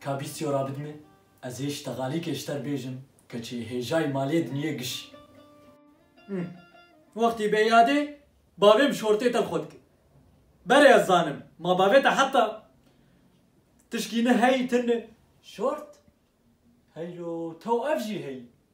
Ka bîstiyo rabidime, ez ê ji tegalîkê ji te bêjim, keçê hêjayî malê diniyê giş e. Wextî bê yadê, bavê bi şortê te li xwe dike. Berê ez zanim, ma bavê te heta tişkî ne heyî tune. Şort? Heylo, tew ev jî heyî?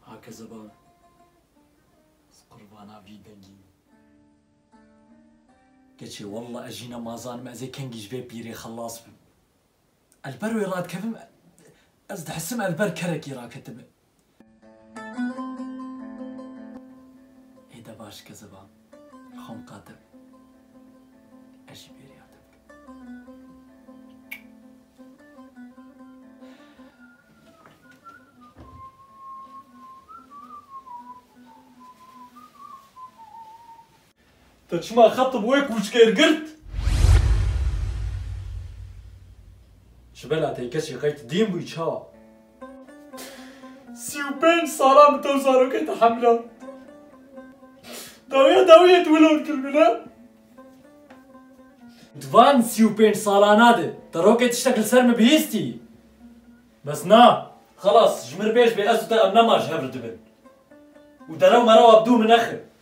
Hakezebar ez qurbana vî dengî me. Keçê walla ez jîna ma zanim ez ê kengî ji vê pîrê xelas bim. Li ber wê radikevim, ez dihisim li ber kerekî raketime. Hêde baş keziba, li xwe miqate be. Ez jî bêriya te bikim. Te çima xet bi wê kûçkêr girt? Ji bela te keçê qey ti dîn bûyî çawa? Sî û pênc salan bi tew zarokê te hemlan. Dawîya dawî yê tu wilod kir min he? Di van sî û pênc salana de te rokê tiştek li ser min bihîstî? Bes na. Xelas ji min re bêj bê ez û te em nema ji hev re dibin. Û derew merewa bi dû min nexin.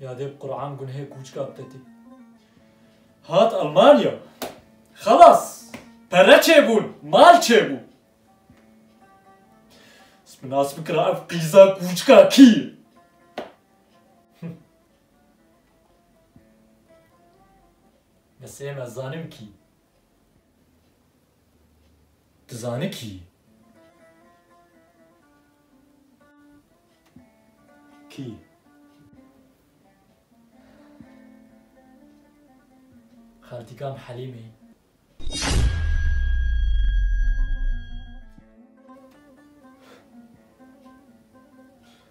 Ya dê Kur'an gunehê kûçka bidetî. Hat Almanya. Xelas. Pere çêbûn. Mal çêbû. Minas bikira ev qîza kûçka kî. Mesê me zanim kî. Tu zane kî yî? Kî? Xaltîkam Helîm î.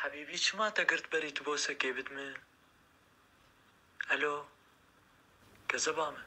Hebîbî çima te girt berî tu bo sekê bid min Elo kezeba min.